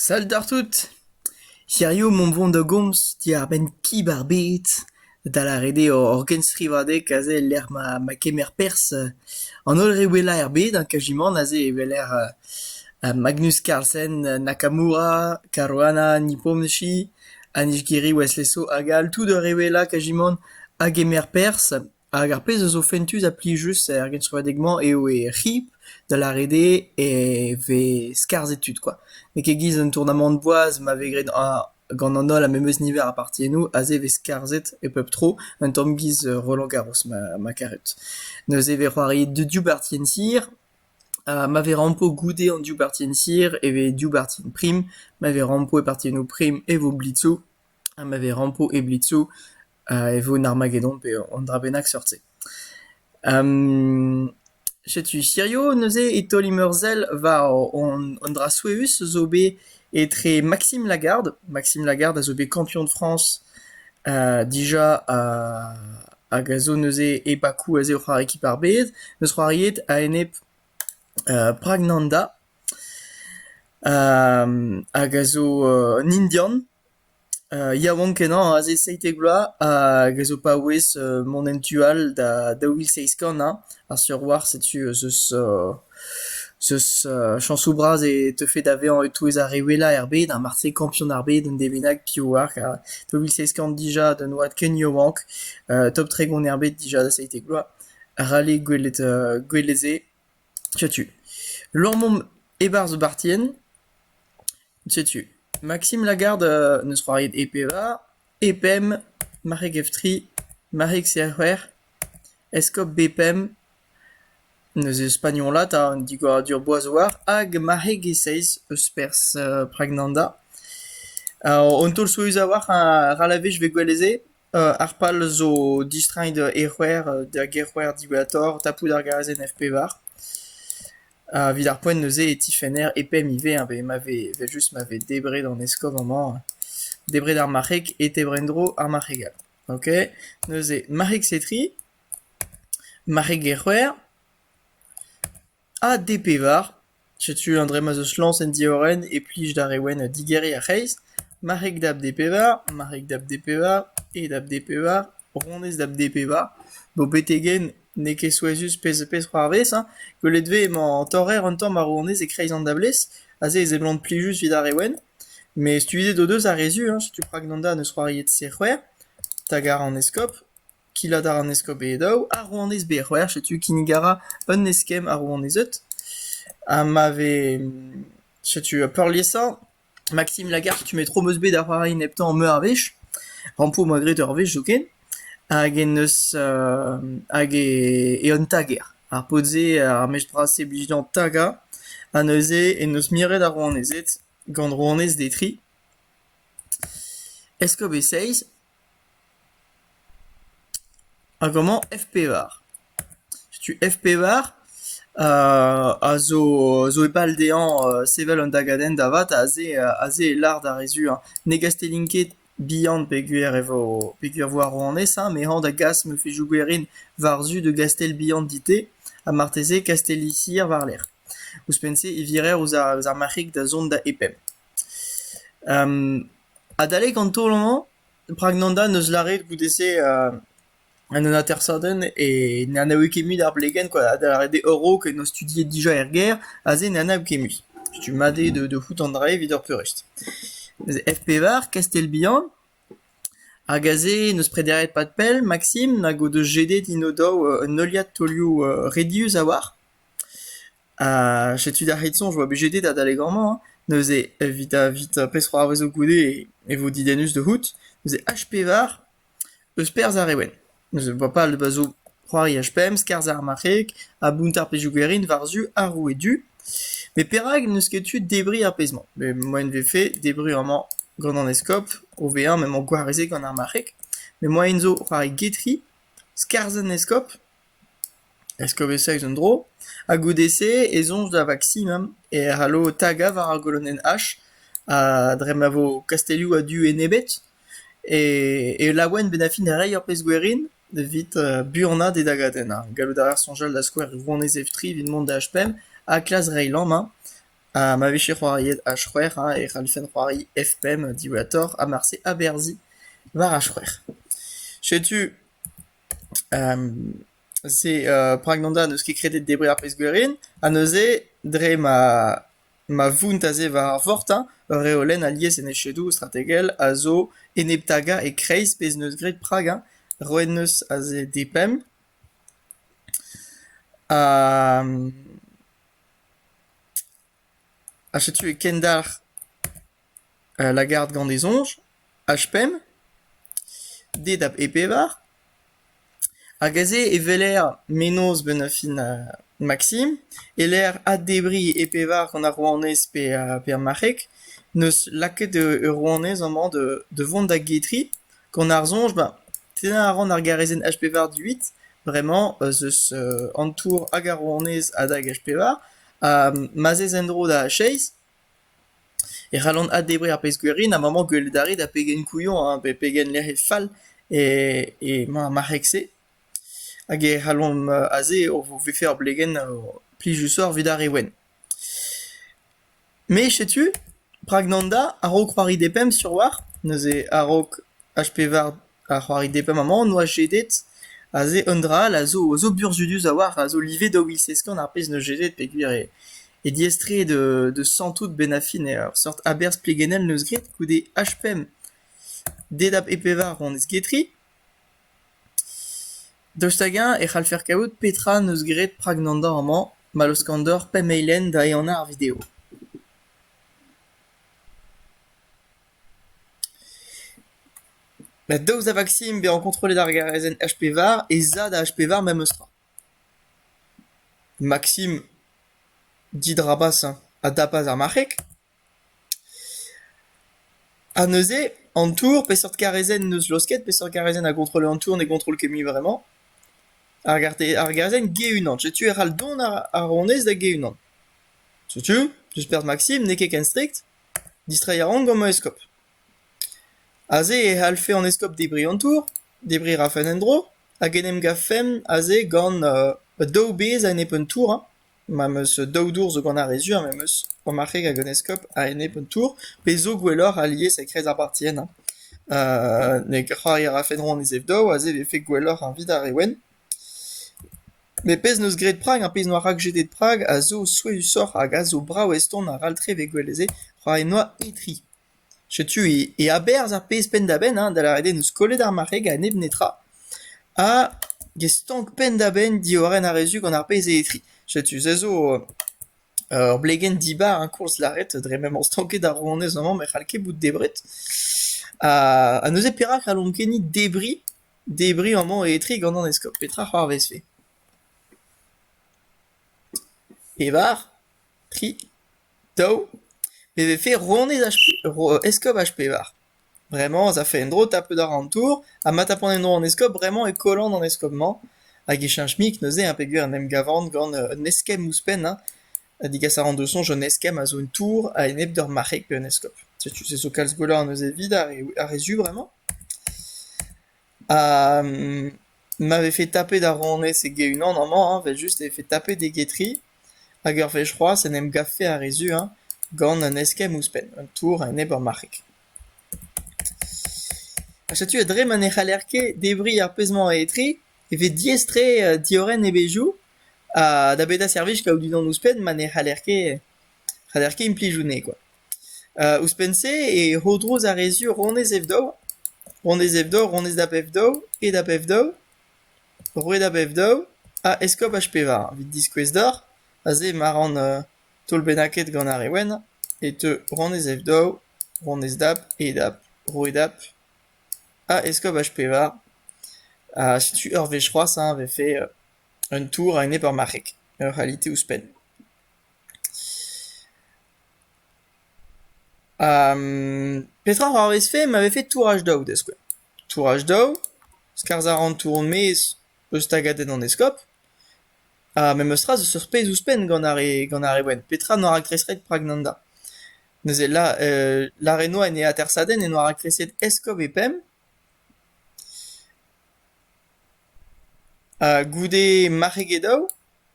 Sal d'ar tout ! Hirio mont vont da gomz diwar-benn kib ar bed, da lâret eo ur genstrivadeg aze e-lec'h ma kemer perzh an holl re wellañ er bed kajimant aze evel Magnus Carlsen, Nakamura, Caruana, Nipponshi, Anishgiri, Wesley Sow hag all, tout ur re wellañ kajimant a gemer perzh. Hag ar pezh a zo fentus ha plijus er genstrivadeg-mañ eo e c'hip, da lâret eo e vez skarzhet tud kwa. N'eo ket giz an tournamant boaz ma vez graet gant an holl ar memes niver a partiennoù, aze e vez skarzhet e pep tro, un tamm giz Roland Garros ma ma karet. Neuze e vez c'hoariet div bartien sir, ma vez rampo goude an div bartien sir e vez div bartien prim, ma vez rampo e partiennoù prim e vo blitzoù, ha ma vez rampo e blitzoù e vo an Armagedon pe un dra bennak seurt-se. setu hirio neuze e taol imeurzhel war an dra souezhus zo bet etre Maxime Lagarde. Maxime Lagarde a zo bet kampion de France dija hag a zo neuze e Bakou aze o c'hoari ekip ar bed. Neus c'hoariet a-enep Pragnanda hag a zo un Indian. Yaouank-kenañ aze seitek vloaz hag a zo paouez mont en tu all da daou vil seizh kant hein, ar seurt war setu zeus zeus chañsoù bras e teufe da vezañ e-touez ar re wellañ er bed ha marse kampion ar bed un devez bennak piv oar ha daou vil seizh kant dija d'un oad ken yaouank top tregont er bed dija da seitek vloaz ral eo gwelet gwelet se. Setu. Lormomp e-barzh Bartien. Setu, Maxime Lagarde n'eus c'hoariet e pevar, e pemp, Marc'heg Eftri, Marc'heg Serc'hwec'h, Eskob Bepemp, neuze e spagnolat ha an digoradur boazoar, hag Marc'heg e-seizh eus perzh Pragnanda. Ha an taol souezhus a-walc'h, ra lavez, je vais gwelet se. Ar pal zo distreiñ e c'hwec'h d'ar gêr-c'hwec'h diwezhatoc'h tapout ar gaz NF-pevar. Evit ar poent neuze e tifenner e-pemp ivez evel ma vez evel-just ma vez debret an eskob amañ, debret ar marc'heg e tebr en-dro ar marc'heg all, ok? Neuze marc'heg-setri, marc'heg gêr-c'hwec'h. Ha D-pevar, setu an dra-mañ zo lañs en diorren e plij d'ar re wenn digeriñ ar c'hreiz, marc'heg dab D-pevar, marc'heg dab D-pevar, e dab D-pevar, ronez dab D-pevar. Bo beteghen n'eo ket souezhus pezh-ha-pezh c'hoarvez hein, gwelet 'vez emañ an torrer un tamm ar ronez e-kreiz an dablez, aze e seblant plijus 'vit ar re wenn. Met studiet o deus ar re zu hein, setu prag d'an darn eus c'hoaried C-c'hwec'h, tagar an eskopr. Killat a ra an eskob e daou, ar rouanez bet c'hwec'h, setu kinnig a ra un eskemm ar rouanezed. Ha ma vez... setu peurliesañ, Maksim Lagarde, tu metro 'm eus bet da c'hoari neptañ meur a wech. Rampo 'm boa graet ur wech zoken. Hag en deus hag eo un tager. Ar paotr-se, ar mech bras-se blij dezhañ tagañ. Ha neuze en deus miret ar rouanezed gant rouanez Detri. Eskob e Seiz. Hag amañ F-pevar. Setu F-pevar a zo zo e pal dezhañ sevel un dagadenn da vat aze aze e lâr d'ar re zu hañ ne gastellin ket bihan peogwir e vo peogwir vo ar rouanez hañ met hañ da gas ma fezhioù gwerin war-zu da gastell bihan dit-te ha marteze kastelli-sir war-lerc'h. Ouzhpenn-se e virer ouzh ar ouzh ar marc'hig da zont da e-pemp. Adalek an taol-mañ, Pragnanda n'eus lâret goude-se en un atersadenn e n'anav ket mui d'ar blegenn quoi, da lâret eo a-raok en doa studiet dija er gêr, aze n'anav ket mui. Stumm-mat eo da da fout an dra evit ur peurrest. Neuze Ef Pevar, Kastell-Bihan, hag aze n'eus prederiet pad pell Maksim nag o deus jedet int o-daou un heuliad taolioù redius a-walc'h. Ha setu d'ar c'hit-soñj e oa bet jedet adalek amañ hein, neuze evit evit peseurt arvezoù goude e vo didennus da c'hoût, neuze H pevar eus perzh ar re wenn, neuze boa pal da zo c'hoari H pemp, skarzhañ ar marc'heg ha bountañ ar pezhioù garin war-zu ar roue du, met perak n'eus ket tu debriñ ar pezh-mañ? Met moaien e vefe debriñ amañ gant an eskob o vezañ m'emañ gwarezet gant ar marc'heg, met moaien zo c'hoari getri, skarzhañ an eskob Eskobeseg zo un dro, ha goude-se e soñj da Vaksimum e c'hallo tagañ war ar golonenn H ha dre ma vo kastelloù a-du enebet e laouen bennafi da reiñ ur pezh gwerin evit buanañ e dagadenn. Gallout a ra soñjal da skouer Rouanez Evtri evit mont da H5 ha klask reiñ lammañ ha ma vije c'hoariet H5 e c'hallfen c'hoari F5 diwezhatoc'h ha marse aberzhiñ war H5. Setu se Pragnonda n'eus ket kredet debriñ ar pezh-gwerin ha neuze dre ma ma vount aze war ar vort hein ur reolenn alies en echedoù strategel a zo enep-tagañ e-kreiz pezh n'eus graet Prag hein roet 'neus aze depemp ha Ha setu e kendalc'h lagart gant e soñj, H-pemp, D da E-pevar, hag aze e weler menoz 'benn fin Maksim, e-lec'h addebriñ E-pevar gant ar rouanez pe pe ar marc'heg, 'neus lakaet ur rouanez amañ da vont da getri, gant ar soñj ben tennañ a ran ar garezenn H-pevar du-huit, bremañ ez eus an tour hag ar rouanez adhag H-pevar. ha ma 'z ez en-dro da chase e c'hallan addebriñ ar pezh-gwerin ha maman gwelet a rit ha pegen kouillon hañ pe pegen lec'hed fall e ma marc'heg-se hag e c'hallomp aze o vefe ur blegenn plijusoc'h evit ar re wenn. Me setu, prag nan da, a-raok c'hoari depemp sur 'oar neuze a-raok H-pevar a c'hoaride pemp-amañ en doa jedet, aze eun dra all a zo, a zo burzuduz a-walc'h, a zo livet daou vil seskorn ar pez 'neus jedet peogwir eo eo diaestreet euh deus santout benn-ar-fin eur seurt aberz plegennel 'neus graet goude H-pemp. Dedap E-pevar on ez get ri. Daoust hag-eñ e c'hallfer kavout petra 'neus graet prag an dor amañ, ma laoskan deoc'h pemp eilenn da ehana ar video? Ma daoust da vaksin bezañ kontrollet ar garezenn HP-var ez a da HP-var memestra. Maksim didrabas a dapas ar marc'heg ha neuze an tour peseurt garezenn n'eus laosket, peseurt garezenn a gontrolle an tour ne gontroll ket mui vremañ. Ar garte- ar garezenn ge-unan. Setu e c'hall dont ar- ar honnezh da ge-unan. Setu, deus perzh Maksim n'eo ket ken strikt. Distreiñ a ran gant ma eskob. Aze e c'hallfe an eskob debriñ an tour, debriñ a rafen en-dro hag en em gavfemp aze gant daou bezh a-enep un tour hein. Ma'm eus daou dour zo gant ar re sur, me 'm eus ur marc'heg hag un eskob a-enep un tour, pe zo gwelloc'h alies e kreiz ar partien hein. Ne c'hoari a rafen roan e zev-daou, aze e vefe gwelloc'h eviñ d'ar re wenn. Met pezh 'neus graet Prag ha pezh 'noa rakjetet Prag a zo souezhusoc'h hag a zo brav eston aralltre evit gwelet se ra em noa etre. Setu e aberzh ar pezh penn-da-benn hein da lâret eo 'neus kollet ar marc'heg a-nep netra ha get stank penn-da-benn diorren ar re zu gant ar pezh eo etre. Setu se zo ur blegenn dibar hein koulz lâret dre m'emañ stanket ar rouanez amañ ma c'hall ket bout debret ha neuze perak c'hallomp ket-ni debriñ Debriñ amañ etre gant an eskob. Petra a c'hoarvezfe? Pevar, tri, daou. E vefe rouanez H pe- ro- eskob H-Pevar. Bremañ ez afe en-dro tapet àr an tour ha ma tapont en-dro an eskob bremañ e kollan an eskob-mañ hag e cheñch-mik neuze hein, peogwir en em gavan gant un eskemm ouzhpenn hein. Ha degas a ran deus soñj un eskemm a zo un tour a-enep d'ur marc'heg pe un eskob. Setu se zo kalz gwelloc'h neuze evit ar re, ar re zu bremañ. Ha ma vefe tapet ar ronez e-unan amañ hañ, evel-just e vefe tapet e getri hag ur wech c'hoazh en em gavfe ar re zu hañ, gant un eskemm ouzhpenn, un tour a-enep ur marc'heg. Ha setu dre ma ne c'haller ket debriñ ar pezh-mañ etre e vez diaes-tre diorren e bezhioù. Ha da beda servij kaout unan ouzhpenn ma ne c'haller ket c'haller ket implij hounnezh kwa. Ouzhpenn-se e rodrouz ar re sur honnezh ev-daou, honnezh ev-daou, honnezh da pep-daou, e da pep-daou, roue da pep-daou ha eskob H-pevar. Evit diskouez deoc'h, aze ma ran taol bennaket gant ar re wenn e teu honnezh ev-daou, honnezh dap, e dap, roue dap ha eskob H-pevar. Ha setu ur wech c'hoazh hein 'vefe Un tour a-enep ur marc'heg, ur realite ouzhpenn. Petra a c'hoarvezfe ma vefe touraj daou da skouer? Touraj daou, skarzh a ran tour hon maez eus tagadenn an eskob, ha memes tra zeus ur pezh ouzhpenn gant ar re gant ar re wenn. Petra n'oa raktreset rak Nanda? Neuze la- Lareno en e atersadenn e noa raktreset eskob e pemp. Ha goude marc'heg e daou,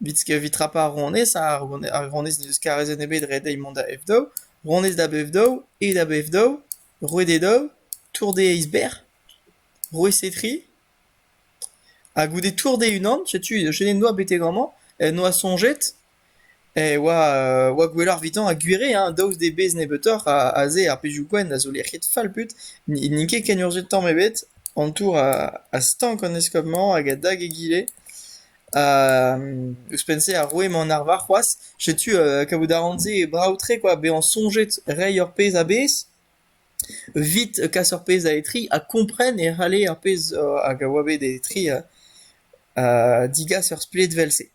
evit rapañ ar ronez, ha ar ronez n'eus karrezed ebet ret dezhi mont da F daou, ronez da B daou, E da B daou, roet e daou, tour dezhe eizh berr, roet e tri. Ha goude tour dezhe unan, setu, Chenet noa betek amañ, noa soñjet. Eh oa oa gwelloc'h evitañ ha gwir eo hein daoust d'e bezh nebeutoc'h aze ar pezhioù-gwenn a zo lec'hiet fall put n'int ket ken urzhiet tamm ebet an tour a stank an eskob-mañ hag a dag egile ha ouzhpenn-se a roe man arvar c'hoazh setu kavout a ran se brav-tre kwa bezañ soñjet reiñ ur pezh a-bezh evit kas ur pezh da etriñ ha kompren e c'halle ar pezh hag a oa bet etriñ digas ur spledvel-se.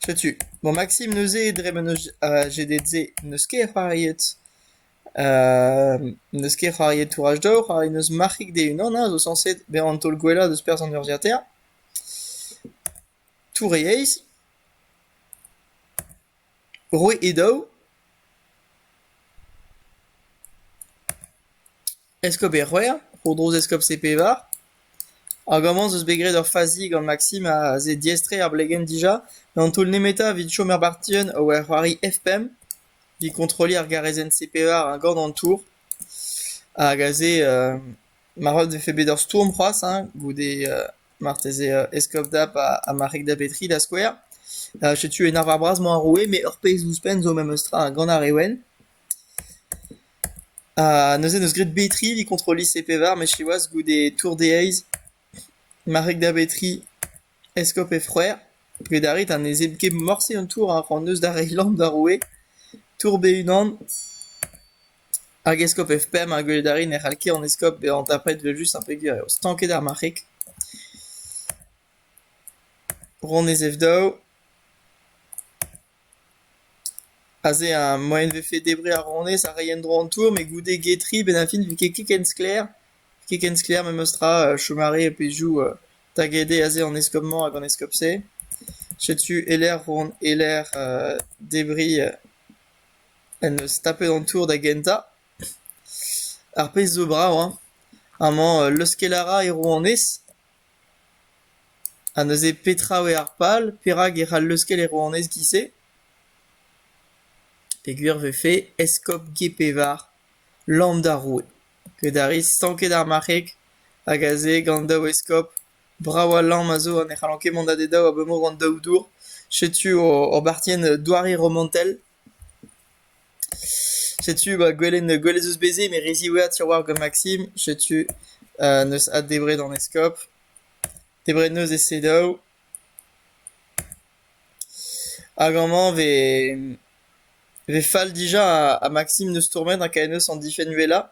Setu, bon Maksim neuze dre ma n'eus ajedet-se n'eus ket c'hoariet euh n'eus ket c'hoariet Tourage Dor rak n'eus marc'hig d'e-unan a zo sañset bezañ an taol gwellañ deus perzh an urzhiataer, Tour-e-Aez, Roue e daou. Eskob Erc'hwec'h, tro-dro eskob C-Pevar. Hag amañ 'z eus bet graet ur fazi gant Maksim aze diaes-tre ar blegenn dija, d'an taol nemetañ evit chom er bartienn o c'hoari F-pemp, evit kontrolliñ ar garezenn C-Pevar ha gant an tour. Hag aze euh marvat 'vefe bet ur stourm c'hoazh hein, goude euh marteze euh eskob Dap ha ha marc'heg da Betri da skouer. Setu en arvar bras-mañ ar roue, met ur pezh ouzhpenn zo memes tra gant ar Rewen. Ha neuze 'neus graet betriñ evit kontrol lise pevar met siwazh goude tour deheiz marc'heg da betriñ eskob he c'hwreur get a rit ha ne zebr ket morse an tour a c'hoant eus da reiñ lamm d'ar roue tour be-unan hag eskob F-pemp ha gwelet a rit ne c'hall ket an eskob bezañ tapet evel-just un peger eo stanket ar marc'heg. Ronez F daou. Aze ha moaien 'vefe debriñ ar ronez ha reiñ en-dro an tour met goude get-ri 'benn ar fin 'vit ket ken sklaer. Ket ken sklaer memestra chom a rae pezhioù da gede aze an eskob-mañ hag an eskob-se. Setu e-lec'h on e-lec'h debriñ en deus tapet an tour da gentañ. Ar pezh zo brav hein. Amañ leuskel a ra e rouanez. Ha neuze petra eo ar pal, perak e c'hall leuskel e rouanez giz-se? Peogwir e vefe eskob Gepevar, lamm d'ar roue. Get a ris stanket ar marc'heg hag aze gant daou eskob, brav ha lamm a zo ha ne c'hallont ket mont da dedaou abalamour d'an daou dour. Setu hor bartienn doare romantel. Setu ba gwelenn gwell ez eus beze met re ziwezhat Siwazh gant Maksim. Setu neus addebret an eskob. Debret neus e selaou. Hag amañ vet fall dija ha Maksim neus tournet ha kae neus an difenn wellañ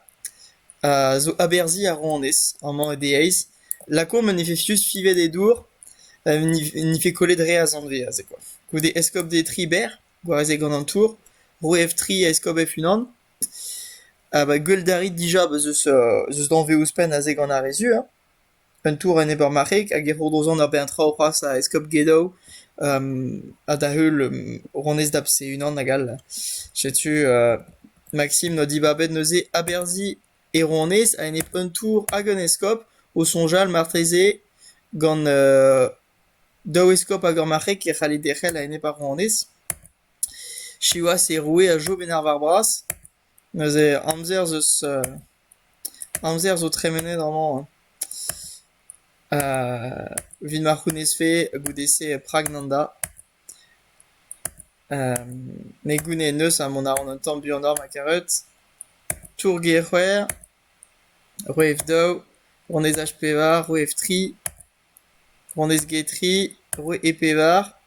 zo aberzhiñ a ronez amañ e deiz. Lakaomp un efesius fivet e dour, n'efe kollet re a zanvez aze kwa. Goude eskob de Tribert. Gwaze gant an tour, roe Eftri ha eskob Efynan. Ha ba Gwelldariz dija beus eus eus danvez ouzhpenn aze gant ar re zu hein. Un tour en Ebermarc'heg hag e ro da zont ur bern traoù c'hoazh da eskob Gedow ha da-heul ronez da Bse-Unan hag all. Setu Maksim n'oa dibabet neuze aberzhiñ e ronez a-enep un tour hag un eskob o soñjal marteze gant Daou eskob hag ur marc'heg e c'halle derc'hel a-enep ar rouanez. Siwazh e roue a jom en arvar-bras. Neuze amzer 'z eus amzer zo tremenet amañ evit ma c'hounezfe goude-se Pragnanda. Ne gounez neus ha mont a ran un tamm buanoc'h ma karet. Tour-gêr c'hwec'h, roueef daou, rouanezaj pevar, roueef tri. Gwanez Getry, roue e-pevar,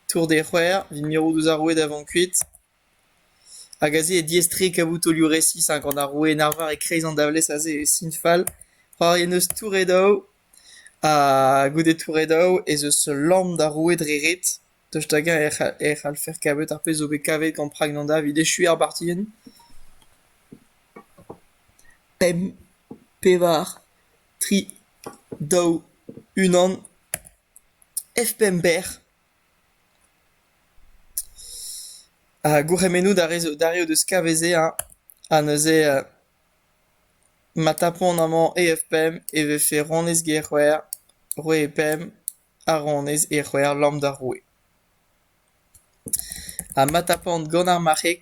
Tour des C'hwec'her, evit mirout ouzh ar roue da vont kuit, hag aze eo diaes-tre kavout taolioù resis hag gant ar roue en arvar e-kreiz an davlez aze eo sinfal. C'hoari en deus Touredaou ha goude Touredaou ez eus lamm d'ar roue dre ret, tost hag-eñ e c'hall e c'hallfer kavet ar pezh zo bet kavet gant Pragnanda evit echuiñ ar bartienn. Pemp, pevar. tri, daou, unan, F-pember ha gourc'hemennoù d'ar re zo d'ar deus kaveze-eñ ha neuze ma tapont amañ E F-pemp e vefe ronez Gerc'hwer, roue e pemp ha ronez Erc'hwer lamm d'ar roue. Ha ma tapont gant ar marc'heg,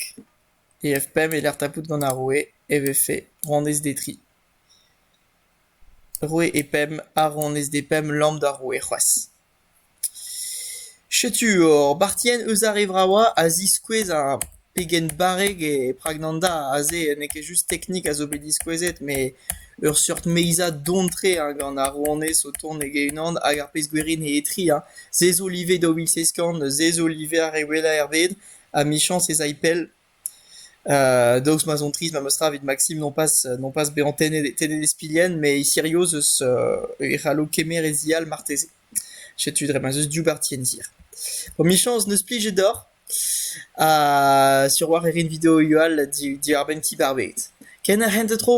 E F-pemp e-lec'h tapout gant ar roue e vefe ronez d'e dri. Roue e pemp a-ron ez dez pemp lamm d'ar roue c'hoazh. Setu hor bartienn eus ar re vravañ a ziskouez ar pegen barrek e Pragnanda aze. N'eo ket just teknik a zo bet diskouezet met ur seurt meizad don-tre hein gant ar rouanez o tont heg-e-unan hag ar pezh gwerin eo etre hein. Se zo live daou vil seizh kant, se zo live ar re wellañ er bed. Amichañs ez ay pell. Daoust ma son trist memestra evit Maksim nompas nompas bezañ tennet tennet e spilhenn met e Sirius eus e c'hallo kemer e zial marteze. Setu dre ma 'z eus div barti en dir. Emichañs n'eus plijet deoc'h ha sur 'walc'h e rin videoioù all di- diwar-benn Ti Barbet. Ken ar c'hent ha tro!